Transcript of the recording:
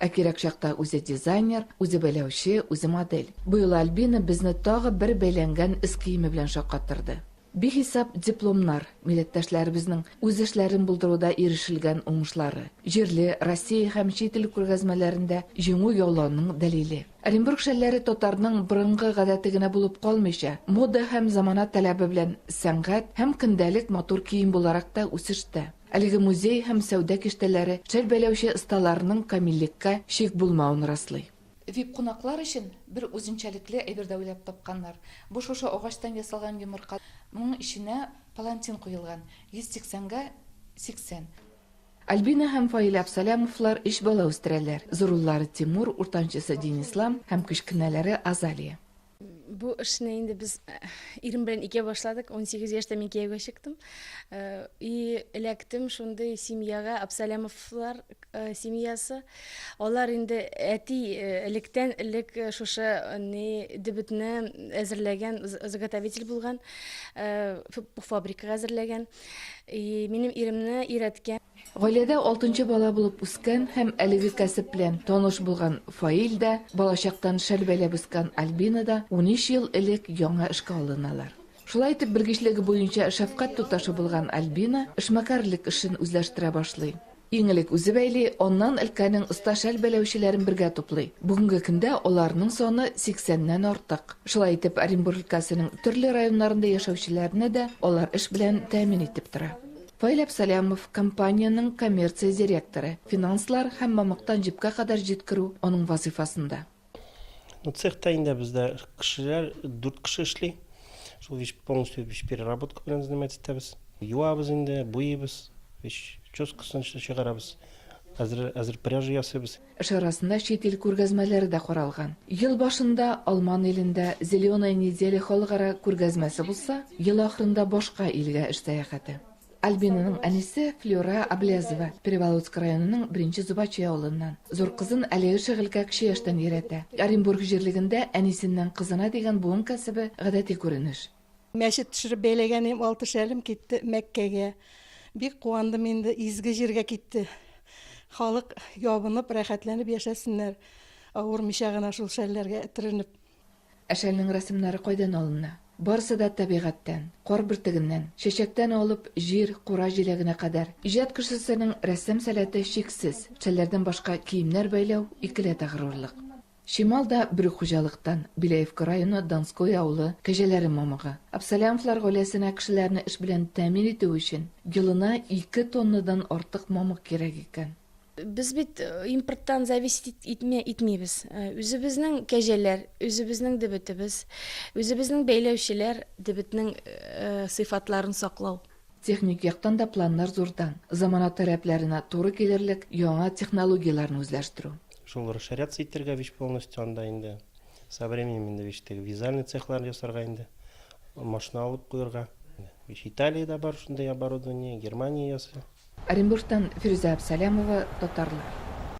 Ә кирәк чакта үзе дизайнер, үзе бәйләүче, үзе модель. Быел Альбина безне тагы бер бәйләнгән эз киеме белән шаккаттырды. Бихисап дипломнар, милләттәшләребезнең үз эшләрен булдыруда ирешелгән уңышлары, җирле, Россия һәм чит ил күргәзмәләрендә җиңү яулауның дәлиле. Оренбург шәлләре татарның борынгы гадәте генә булып калмыйча, мода һәм замана таләбе белән сәнгать һәм көндәлек матур кием буларак та үсештә. Әлеге музей һәм сәүдә киштәләре шәл бәйләүче осталарның камиллеккә шик булмавын раслый. Вип-кунаклар өчен бер үзенчәлекле әйбер дә уйлап тапканнар. Бу шушы агачтан ясалган йомырка. Моның эченә палантин куелган, 180 га 80. Альбина һәм Фаил Әпсалямовлар өч бала үстерәләр, зур уллары Тимур, уртанчысы Динислам һәм кечкенәләре Азалия. Бу эшне инде без э, ирем белән икәү башладык. 18 яшьтә мин кияүгә чыктым. Э, и эләктем шундый семьяга, Абсалямовлар э, семьясы. Алар инде әти электән элек шушы ни дебетне әзерләгән, заготовитель булган, фабрикага әзерләгән. И минем иремне өйрәткән. Гаиләдә алтынчы бала булып үскән һәм әлеге кәсеп белән таныш булган Фаил дә, балачактан шәл бәйләп үскән Альбина да унөч ел элек яңа эшкә алыналар. Шулай итеп, белгечлеге буенча шәфкать туташы булган Альбина эшмәкәрлек эшен үзләштерә башлый. Иң элек үзе бәйли, аннан өлкәнең оста шәл бәйләүчеләрен бергә туплый. Бүгенге көндә аларның саны сиксәннән артык. Шулай итеп, Оренбур өлкәсенең төрле районнарында яшәүчеләрне дә алар эш белән тәэмин итеп тора. Фаил Әпсәләмов, компаниянең коммерция директоры, финанслар һәм мамыктан җепкә кадәр җиткерү аның вазыйфасында. Цехта инде бездә кешеләр, дүрт кеше эшли. Шул вещь полностью вещь переработка белән заниматься итәбез. Юабыз инде, буйыйбыз, вещь чёскасын чыгарабыз, әзер әзер пряжа ясыйбыз. Эш арасында чит ил күргәзмәләре дә каралган. Ел башында Алман илендә Зеленая неделя халыкара күргәзмәсе булса, ел ахырында башка илгә эш сәяхәте. Альбинаның әнисе Флюра Аблезова, Переволодск районының Беренче Зубачи авылыннан. Зур кызын әлеге шөгылькә кече яшьтән өйрәтә. Оренбург җирлегендә әнисеннән кызына дигән буын кәсебе, гадәти күренеш. Мәчет төшереп бәйләгәнем алты шәлем китте Мәккәгә. Бик куандым инде, изге җиргә китте. Халык ябынып, рәхәтләнеп яшәсеннәр, авырмыйча гына шул шәлләргә этеренеп. Ә шәлнең рәсемнәре кайдан алына? Барысы да табигатьтән, кар бөртегеннән, чәчәктән алып, җир, кура җиләгенә кадәр. Иҗат кешесенең рәссам сәләте чиксез. Шәлләрдән башка киемнәр бәйләү, икеләтә горурлык. Чимал да бер үк хуҗалыктан, Беляевка районы Донское авылы кәҗәләре мамыгы. Абсолямовлар гаиләсенә кешеләрне эш белән тәэмин итү өчен елына ике тоннадан артык мамык кирәк икән. Без бит импорттан зависеть итмибез. Үзебезнең кәҗәләр, үзебезнең дебетебез, үзебезнең бәйләүчеләр, дебетнең сыйфатларын саклау. Техник яктан да планнар зурдан, замана таләпләренә туры килерлек яңа технологияләрне үзләштерү. Шул расширяться итәргә вич полностью анда инде, со временем инде вич теге вязальный цехлар ясарга инде, машина алып куерга. Вич Италиядә бар шундый оборудование, Германия ясый. Оренбургтан Фирүзә Абсалямова, Татарлар.